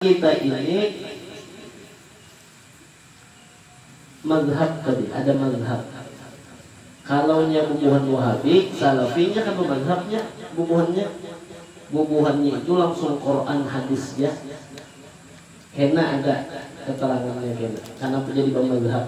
Kita ini mazhab tadi, ada mazhab. Kalau nya bubuhan Wahabi, Salafi nya kah bamazhab nya bubuhannya? Bubuhannya itu langsung Quran Hadis ja. Kena ada keterangannya kena. Kanapa jadi bamazhab?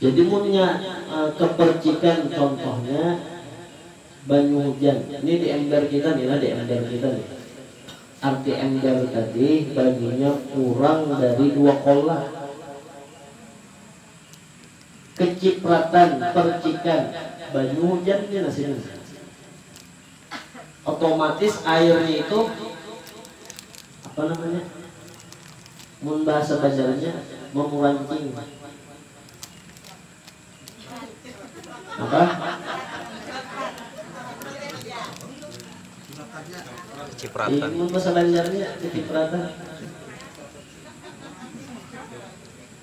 Jadi munnya kepercikan contohnya banyu hujan, ni di ember kita ni lah di ember kita ni, arti ember tadi banyunya kurang dari dua kolla, kecipratan percikan banyu hujan ni nah sini nah. Otomatis airnya itu apa namanya mun bahasa banjarnya mamurancing apa kecipratan mun bahasa banjarnya kecipratan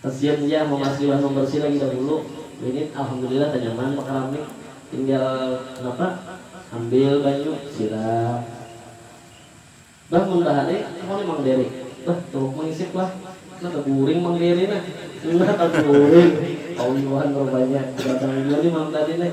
Kasian jar mamasi wan mambarsi lagi dahulu ini alhamdulillah tanyaman bakarami tinggal napa ambil banyu siram bah mun bahari aku ni mang beri bah tuhuk mangisip lah nah taguring mang beri nah nah taguring kawiuhan rupanya gadang jua ni malam tadi nih.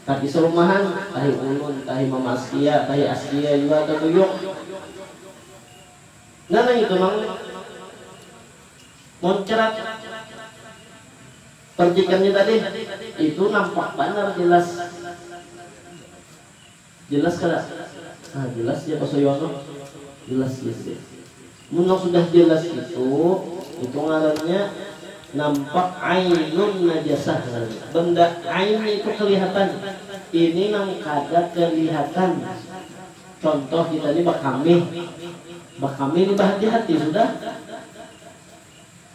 Tapi sarumahan, tahi ulun, tahi mamaskia, tahi askia jua tatuyung. Nah nangitu pang muncrat percikannya tadi, itu nampak banar jelas. Jelas kada? Nah jelas ja Pak Suyono, jelas ja itu deh. Mun nang sudah jelas itu, itu ngarannya nampak ainun najasah ngarannya. Benda ain naitu kelihatan. Ini nang kada kelihatan. Contoh kita ni bakamih. Bakamih ni bahati-hati sudah.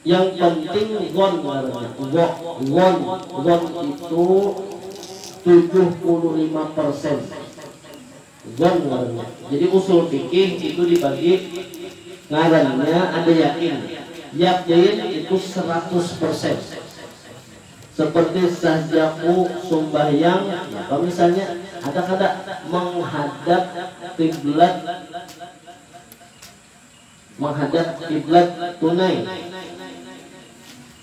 Yang penting gon ngarannya, wok, won, won itu tujuh puluh lima persen. Gon ngarannya. Jadi usul fikih itu dibagi ngarannya ada yakin. Yaqin itu seratus persen. Seperti sahjaku sumbahyang, napa misalnya, ada kada menghadap qiblat. Manghadap kiblat tunai.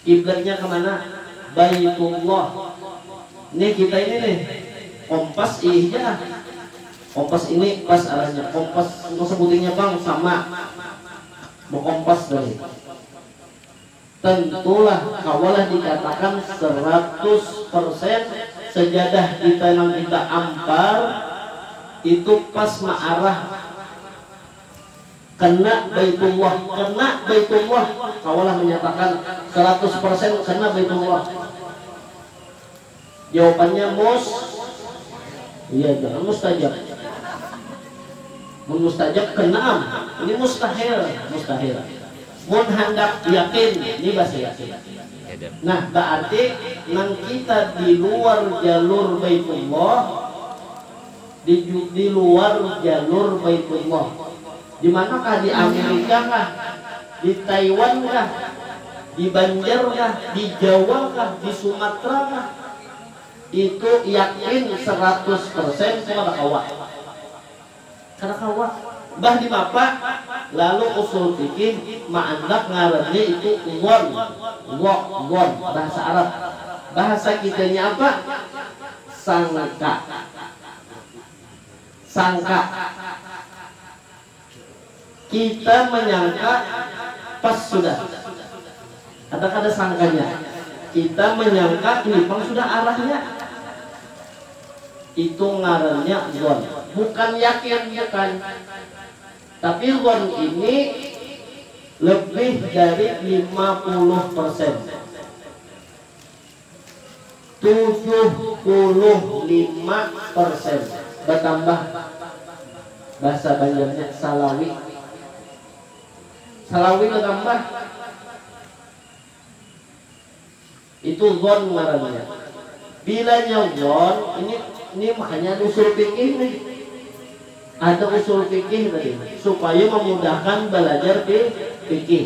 Kiblatnya ka mana? Baitullah. Nih kita ini nih, kompas iih ja ah. Kompas ini pas arahnya. Kompas nang sabutingnya pang sama. Bakompas tadi. Tentulah kawalah dikatakan seratus persen sejadah kita nang kita ampar itu pas maarah kena Baitullah. Kena Baitullah, kawalah manyatakan seratus persen kena Baitullah. Jawapannya mus iya jangan mustajab mun mustajab kena am ini mustahil mustahil mun handak yakin ni basa yakin nah baarti nang kita di luar jalur baitullah di di luar jalur baitullah. Di mana kah? Di Amirika kah? Di Taiwan kah? Di Banjar kah? Di Jawa kah? Di Sumatra kah? Itu yakin seratus persen itu kada kawa. Kada kawa. Bah dimapa? Lalu usul fikih maandak ngarannya itu dhon, dho, dhon, bahasa Arab. Bahasa kitanya apa? Sangka. Sangka. Kita menyangka pas sudah. Ada kada sangkanya. Kita menyangka ini pang sudah arahnya. Itu ngarannya dzon. Bukan yakin, bukan. Tapi dzon ini lebih dari lima puluh persen. Tujuh puluh lima persen batambah bahasa banjarnya salawi salawi batambah itu zon ngarannya bilanya zon ini ini makanya ada usul fikih nih ada usul fikih tadi supaya memudahkan belajar fi fikih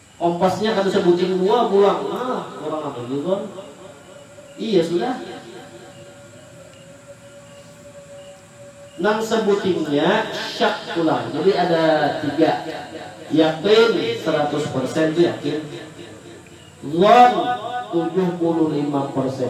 Kompasnya kada sabuting dua pulang, malah kurang apa jua pang. Iya sudah. Nang sabutingnya syak pulang. Jadi ada tiga. Yaqin, saratus persen tu yakin. Dzan, tujuh puluh lima persen.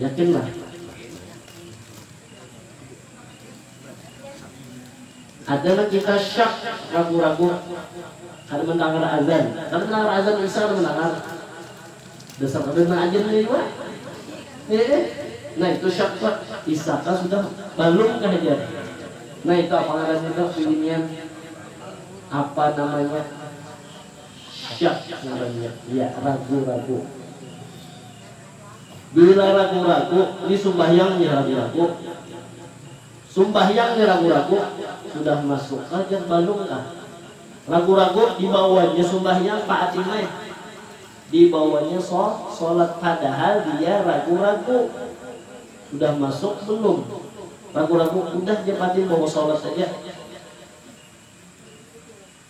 Yakin lah. Ada nang kita syak, ragu-ragu. Kada mendangar azan. Kada mendangar azan isya kada mendangar. Dasar kada nang ajannya jua. Heeh. Nah itu syak tu. Isya kah sudah? Balum kah jar. Nah itu apa ngarannya tu bibinian? Apa namanya? Syak ngarannya. Ya, ragu-ragu. Dilaragu-ragu, disumbahyang diragu-ragu, sumbahyang diragu-ragu, sudah masuk kah jar balum kah, ragu-ragu dibawanya sumbahyang pa acil mai, dibawanya so solat padahal dia ragu-ragu sudah masuk belum, ragu-ragu udah ja patin bawa solat aja.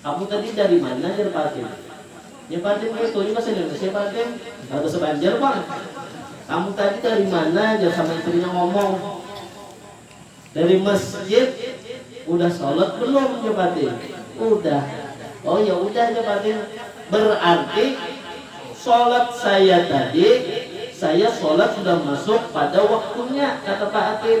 Kamu tadi dari mana jar Patin. Nya Patin kaya itu nya bahasa Indonesia Patin. Kada bahasa Banjar pang. Kamu tadi dari mana jar sama istrinya ngomong. Dari masjid. Udah solat belum jar Patin. Udah. Oh ya udah jar Patin. Berarti solat saya tadi saya solat sudah masuk pada waktunya kata Patin.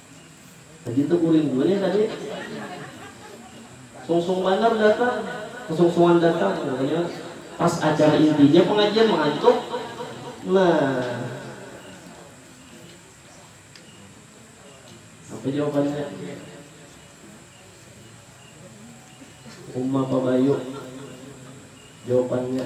Begitu kurindunya tadi sungsung banar datang kesungsungan datang pokoknya pas acara intinya pengajian mengantuk nah apa jawabannya Umma Pabayu jawabannya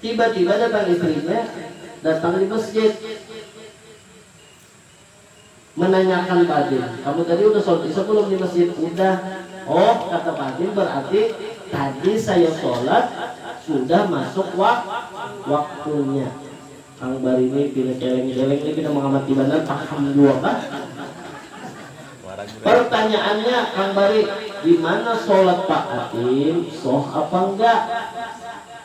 Tiba-tiba datang istrinya, datang di masjid. Menanyakan badin, kamu tadi udah sholat isya belum di masjid? Udah. Oh, kata badin berarti tadi saya sholat sudah masuk wak waktunya. Kang Bar ini pina celeng-celeng nih, pina mengamati banar, paham jua kah? Pertanyaannya, Kang Bari, gimana sholat Pak Atin, shoh apa enggak?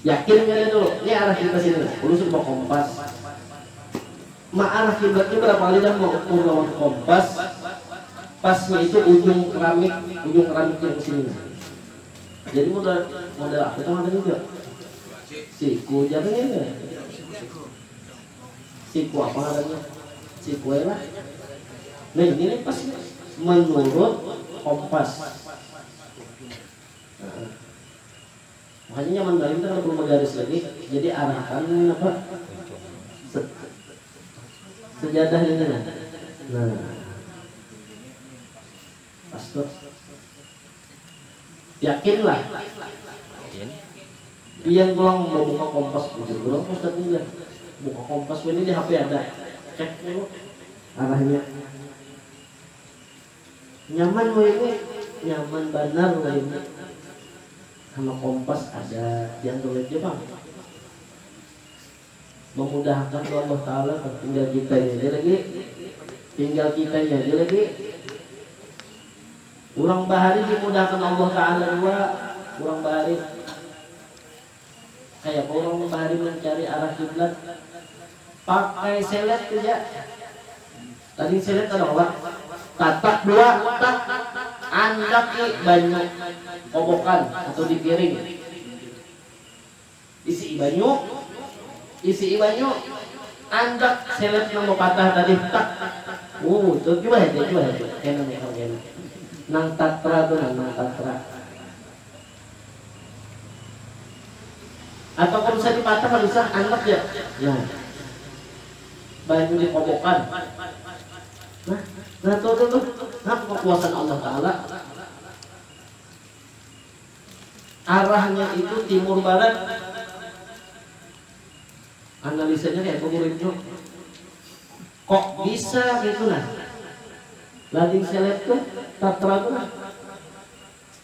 Yakin kada tu? Ni arah kita sini nah, ulun sudah bakompas. Ma arah kiblat ni berapa kali dah ma ukur lawan kompas, pasnya itu ujung keramik, ujung keramik yang sini nah. Jadi model model apa itu ngarannya Jo? Siku jar nya itu ya? Siku apa ngarannya? Siku ai lah. Nah ini nih pas nih, menurut kompas. Nah. Makanya nyaman banar kita kada perlu bagaris lagi, jadi arah akan ini napa se sejadah ini nah, nah pas tu yakin lah pian pulang babuka kompas bujur banar pang ustad nih jar buka kompas wahini di hp ada cek dulu arahnya. Nyaman wayahnya, nyaman banar wayahnya. Sama kompas ada di android ja pang. Memudahakan tu Allah taala tuh, tinggal kitanya ja lagi, tinggal kitanya ja lagi. Urang bahari dimudahakan Allah taala jua, urang bahari. Kaya urung bahari mancari arah kiblat pakai selet tu ja. Tading selet kada kawa. Tatak dua tak andaki banyu kobokan atau di piring. Isi'i banyu, isi'i banyu, andak selet nang bapatah tadi tak. Uu tu jua haja, jua haja. Kena nukar kena. Nang tatra tu nah, nang tatra. Atau pun sadi patah lisah anak ya nah banyu di kobokan nah nah tuh tuh tuh nang kekuasaan Allah taala arahnya itu timur barat analisanya kaya tu urip tu kok bisa kaya tu nah lading seleb tu tatra tu nah.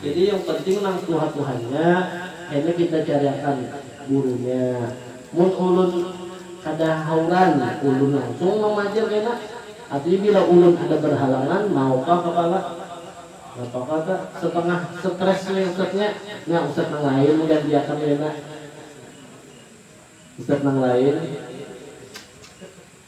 Jadi yang penting nang tuha-tuhannya kena kita cariakan gurunya. Mun ulun kada hauran ulun langsung mamaja kena. Tapi bila ulun ada berhalangan maukah kepala? Napakah ta setengah stress ni ustadznya? Nya ustadz nang lain gantiakan kena. Ustadz nang lain.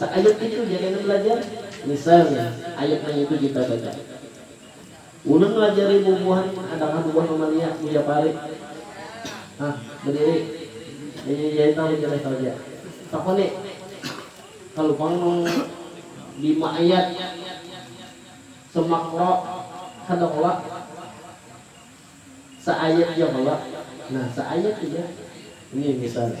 Saayat itu jar yang balajar, misalnya ayat nang itu kita baca. Ulun malajari bubuhan ada kah bubuhan mamalia buya parik? Hah, badiri. Inya jai tahu jar Ethel ja. Takoni, kalu pang nang lima ayat semakro kada kala? Saayat ja kala? Nah, saayat tu jar. Ini misalnya.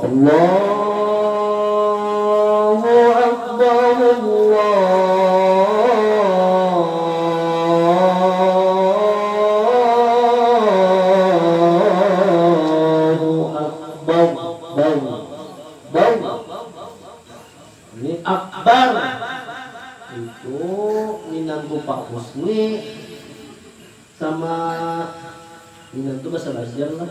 Allahu akbar Allahu akbar bar bar ni akbar itu minantu pak husni sama minantu bahasa banjar lah.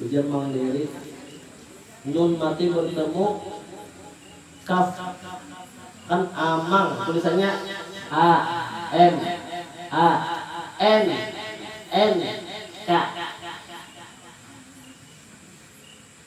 Ujar Mang Deri, Nun mati bertemu kaf kan amang tulisannya a m a n n k.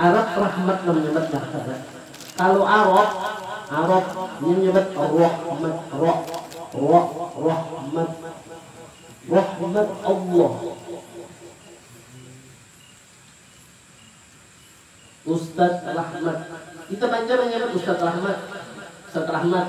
Arab rahmat manyebat marhabat. Kalu Arab, Arab, inya nyebat rahmat, ra, ra, rahmat. Rahmat Allah. Ustad Rahmat. Kita Banjar manyebat Ustad Rahmat, Ustad Rahmat.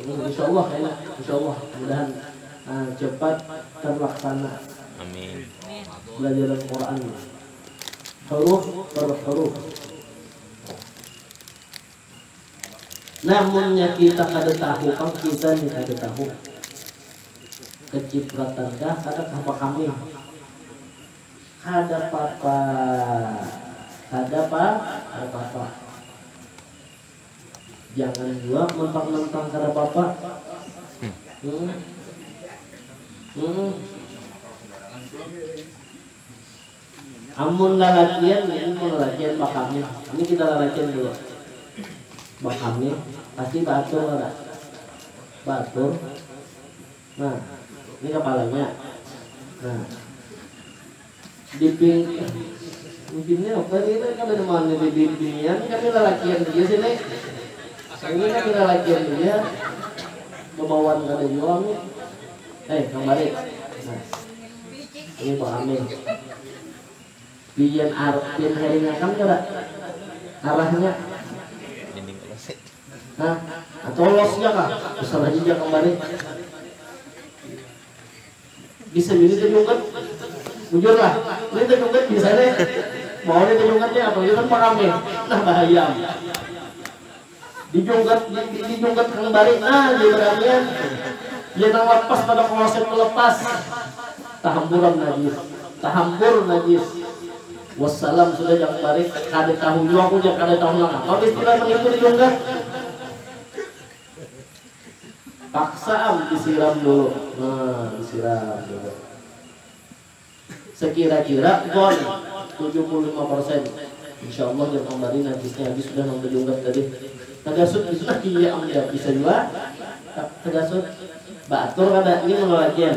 Insyaallah ya nak, insyaallah mudahan uh, cepat terlaksana. Amin. Belajaran Quran huruf per huruf. Namunnya kita kada tahu, kan kita ni kada tahu. Kecipratan kah, kada apa kami. Kada apa-apa. Kada apa, kada apa-apa. Jangan jua mentang-mentang kada apa-apa. Hmm. Hmm. Amun lalakian ini mun lalakian bakamih. Ini kita lalakian dulu. Bakamih pasti baatur kada? Baatur. Nah, ini kepalanya. Nah. Diping eh udin ni apa ni nah kada nang mana di bibinian kami lalakian haja sini ini kami lalakian haja bebauan kada jua kami eh nang bari nah ini buah kami pian ar pian haringakan kada arahnya ha atau los ja kah usah lagi ja kambari. Bisa jadi itu nyungut, bujur lah, ini itu nyungut bisa nih, mau nih itu nyungut nih, apalagi itu paham nih, nah bahaya am, di nyungut, di nyungut kang bari nah jar badamian, ya nang lapas pada kloset tu lepas, tahamburan najis, tahambur najis, wassalam sudah jangan barik, kada tahu jua aku jar kada tahu nangapa istilah menipu di nyungut. Paksa am disiram dulu, nah disiram dulu sekira-kira pon tujuh puluh lima persen insya Allah jam kambari najisnya habis sudah nang tajungkat tadi tagasut bisa nah iya am jar bisa jua tagasut baatur kada ini mengawal jam.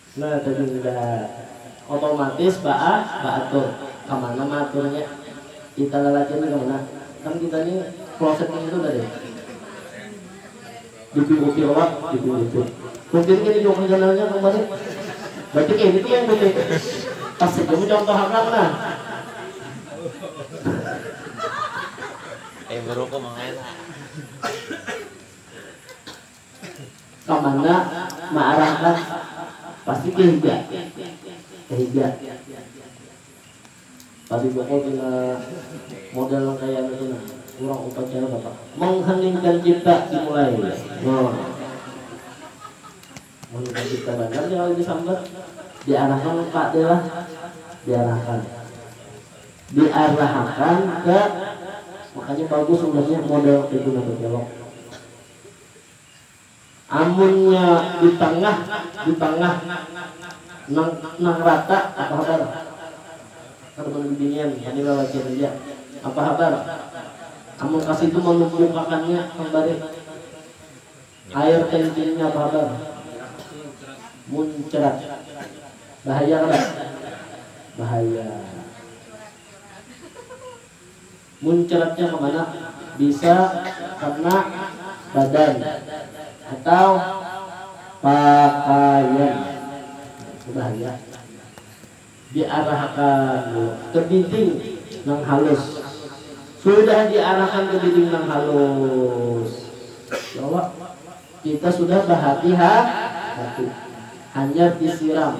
Nah tadi hudah otomatis ba a ba atur kamana ma aturnya di talalakian ni kamana kan kita ni kloset ni itu tadi di pinggir pir wa di pinggir pir kunti ni kini jua kerjanalnya kang barit berarti kaya ini tu yang kunti pas haja mu contoh akan nah. Kamana maarahkan pasti ke hija ke hija tadi bukul pina model nang kaya anu tu nah urang upacara bapak mengheningkan cipta dimulai nah mengheningkan cipta banar nih kalu disambat diarahkan ka de lah diarahkan diarahakan ke makanya bagus ulun nya model nang kaya itu nah bakelok. Amunnya di tangah, di tangah nang nang rata apa habar? Kada banar bibinian kami lalakian haja. Apa habar? Amun ka situ manumpukakannya kambari. Air kencingnya apa habar? Muncrat. Bahaya kada? Bahaya. Muncratnya ke mana? Bisa kena badan atau pakaian. Nah, itu bahaya. Diarahakan dulu ke diding nang halus. Sudah diarahakan ke diding nang halus, ya Allah, kita sudah bahati-ha-hati. Hanyar disiram.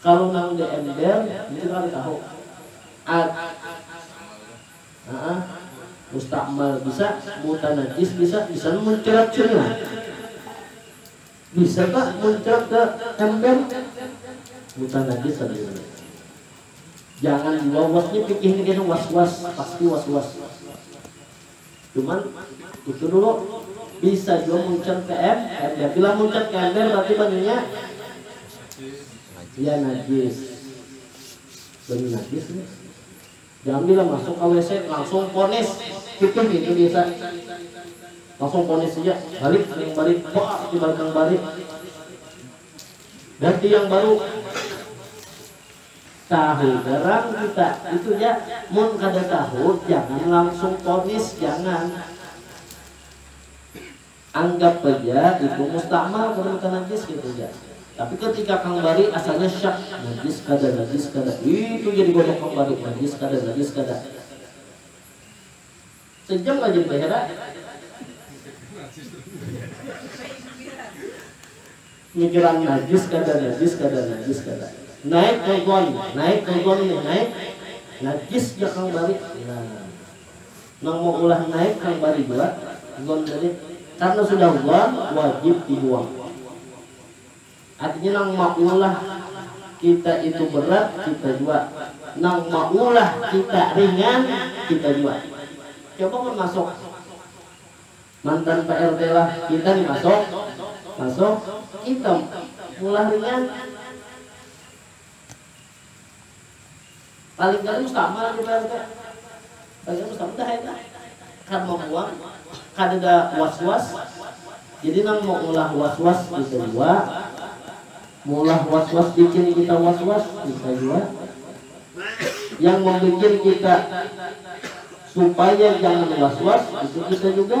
Kalu nang di ember mungkin kada tahu ad haa mustakmal bisa mutanajis bisa bisa muncrat sini lah bisa kah muncrat ke ember mutanajis sabujurnya jangan jua was ni pikih ni kayanya was was pasti was was. Cuman itu dulu bisa jua muncan ke em ember bila muncan ke ember berarti banyunya ya najis banyu najis nih jangan bila masuk ka WC langsung ponis kitih nih itu biasa langsung ponis aja balik nang bari baar dibalik nang bari ganti yang baru. Tahu garang kita, itu ja. Mun kada tahu jangan langsung ponis, jangan. Anggap haja itu mustamal buhan ka najis kaitu ja. Tapi ketika kang bari asalnya syak, najis kada, najis kada, itu ja digodok kang bari, najis kada, najis kada. Sejam rajin bahirat. Mikiran najis kada najis kada najis kada. Naik nonton, naik nonton nih naik najis ja kang bari. Nah. Nang maulah naik nang bari jua, zon balik. Karna sudah zon, wajib dibuang. Artinya nang maulah kita itu berat, kita jua. Nang maulah kita ringan, kita jua. Coba mun masuk mantan PRT lah, kita nih masuk, masuk, kita maulah ringan. Paling kada mustamar kita tu, paling kada mustamar dah ai dah, kada mambuang, kadada was was, jadi nang maulah was was kita jua, maulah was was bikin kita was was kita jua, yang mambikin kita supaya jangan was was itu kita juga.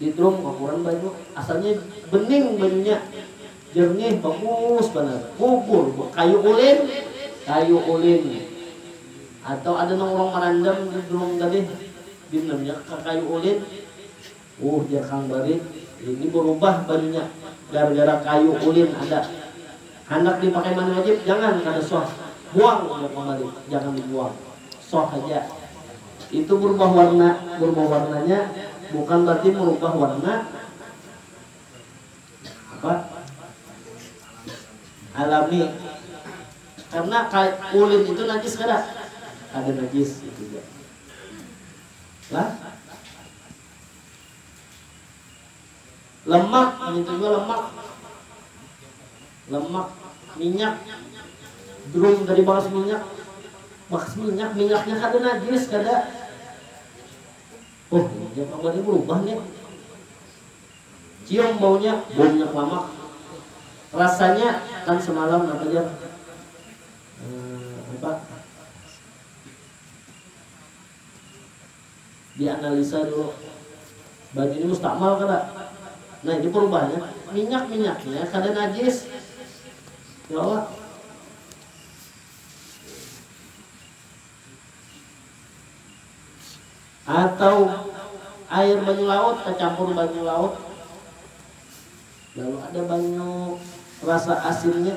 Di drum bakuran banyu, asalnya bening banyunya, jernih, bagus banar. Bubur bekayu ulin, kayu ulin atau ada nang urang marandam di drum tadi dinamnya ka kayu ulin. Uh jar kang barit, ini berubah banyunya gara-gara kayu ulin ada. Handak dipakai mana wajib jangan kada sah buang ja kembali jangan dibuang sah haja itu berubah warna berubah warnanya bukan berarti merubah warna apa alami karena ka ulin itu najis kada kada najis itu ja lah. Lemak, ngintu jua lemak. Lemak, minyak. Drum tadi bakas minyak. Bakas minyak, minyaknya kada najis, kada. Oh, ini minyak perabot ini berubah nih. Cium baunya, bau minyak lamak. Rasanya kan semalam apa jar? Eh, apa? Dianalisa dulu, banyu ini mustamal kada? Nah ini perubahannya, minyak-minyaknya kada najis. Ya Allah. Atau air banyu laut tacampur banyu laut, lalu ada banyu rasa asinnya.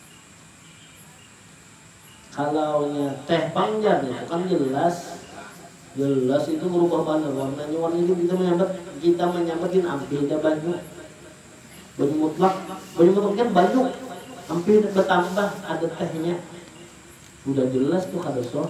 Kalau nya teh pang jar nitu kan jelas, jelas itu berubah banar warnanya warna gin kita menyambat kita menyambat gin ampih dah banyu, banyu mutlak, banyu mutlak jar banyu, ampih dah betambah ada tehnya, udah jelas tu kada soh.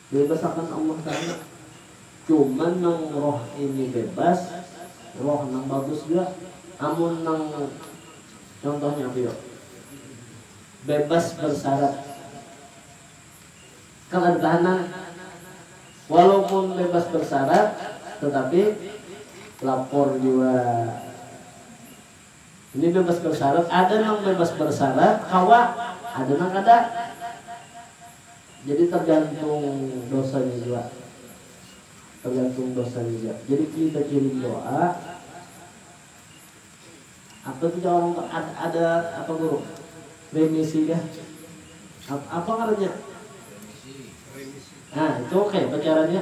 Bebas akan Allah taala. Cuman nang roh ini bebas, roh nang bagus jua. Amun nang contohnya apa yo? Bebas bersarat. Kan ada tahanan. Walaupun bebas bersarat tetapi lapor jua. Ini bebas bersyarat, ada nang bebas bersyarat kawa, ada nang kada. Jadi tergantung dosanya jua. Tergantung dosanya jua. Jadi kita kirim doa, apa tidak orang tu ad ada apa guru remisi kah? Apa ngarannya? Remisi. Nah, itu kaya apa caranya?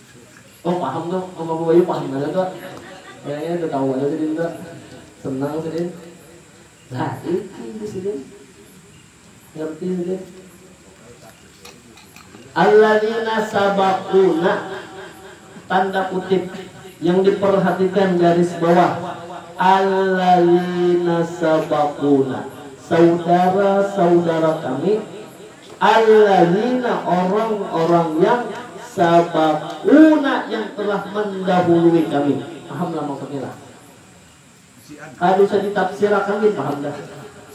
Oh paham tu om abu bayu paham banar tu kayaknya udah tahu banar sidin tu senang sidin lah iki jar sidin ngerti sidin alladzina sabaquna tanda kutip yang diperhatikan garis bawah alladzina sabaquna saudara-saudara kami. Alladzina orang-orang yang sabaquna yang telah mandahului kami. Paham lah maksudnya lah. Kada usah ditafsirakan gin paham dah.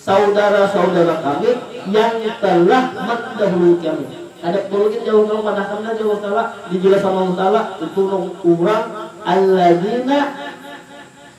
Saudara-saudara kami yang telah mandahului kami. Kada perlu gin jauh nang padahkan dah jar Allah Taala. Dijelas akan Allah Taala itu nang urang alladzina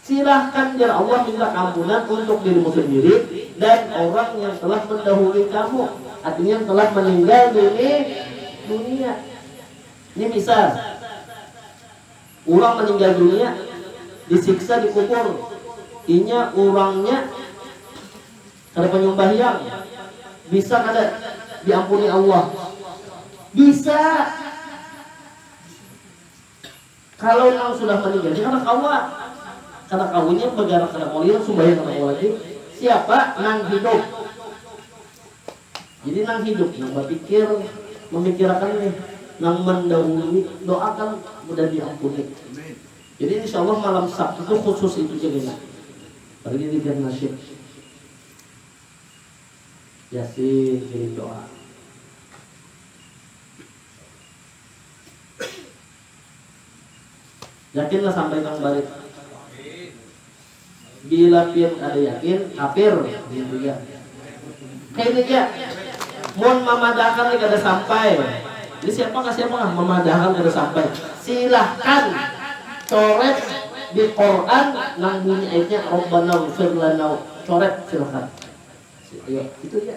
Silahkan jar Allah minta ampunan untuk dirimu sendiri dan orang yang telah mendahului kamu, artinya yang telah meninggal duni dunia. Ini misal, urang meninggal dunia disiksa di kubur, inya urangnya kada panyumbahyang, bisa kada diampuni Allah? Bisa! Kalau nang sudah maninggal ni kada kawa. Kada kawa inya bagarak kada kawa lirang, sumbayang kada kawa lagi. Siapa? Nang hidup. Jadi nang hidup nang bapikir, mamikirakan nih nang mandahului doa kan mudah diampuni. Jadi insya Allah malam Sabtu tu khusus itu ja kena. Apalagi dzikir nasyid, yasin, ngiring doa. Yakinlah sampai nang barit. Bila pian kada yakin, kafir, jar Buya. Kayni ja, mun mamadahakan ni kada sampai, ni siapa kah siapa kah mamadahakan kada sampai, silahkan coret di Quran nang bunyi ayatnya Rabbana ighfir lana, coret silahkan. Ayo, itu ja.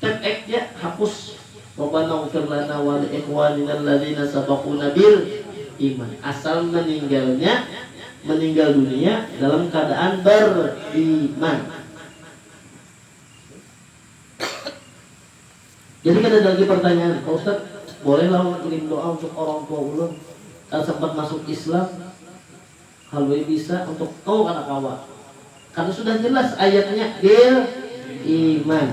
Tag eg ja hapus. Rabbana ighfir lana wa li ikhwanina alladzina sabaquna bil iman. Asal meninggalnya meninggal dunia dalam keadaan beriman. Jadi kada ada lagi pertanyaan, Pak Ustadz, bolehlah ulun kirim doa untuk orang tua ulun, kada sempat masuk Islam? Halui bisa untuk tol kada kawa. Karna sudah jelas ayatnya bil iman.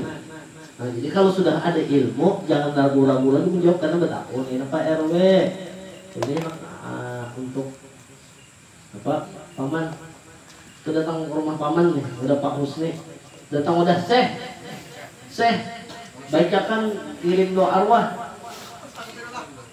Nah jadi kalu sudah ada ilmu jangan ragu-ragu lagi menjawab karna betakun kena pa rw. Jadi handak nah untuk apa paman tu datang ke rumah paman nih udah pak husni datang udah seh seh bacakan ngirim doa arwah.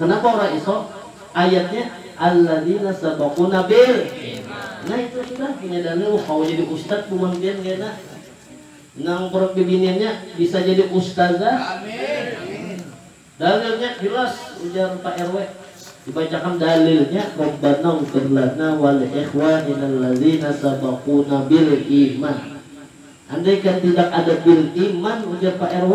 Kenapa orang isok? Ayatnya alladzina sabaquna bil iman. Nah itu sudah penyadarnya wah kawa jadi ustad buhan pian kena. Nang perut bibiniannya bisa jadi ustazah. Dalilnya jelas ujar Pak RW. Dibacakan dalilnya Rabbana ighfir lana wa li ikhwanina alladzina sabaquna bil iman. Andaikan tidak ada bil iman ujar Pak RW.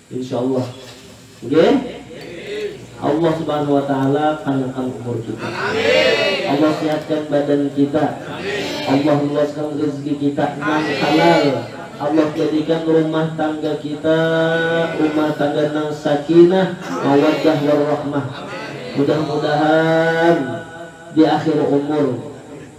Insyaallah nggih Allah subhanahu wa taala panjangkan umur kita Allah sehatkan badan kita Allah luaskan rezeki kita nang halal Allah jadikan rumah tangga kita rumah tangga nang sakinah mawaddah warahmah mudah mudahan di akhir umur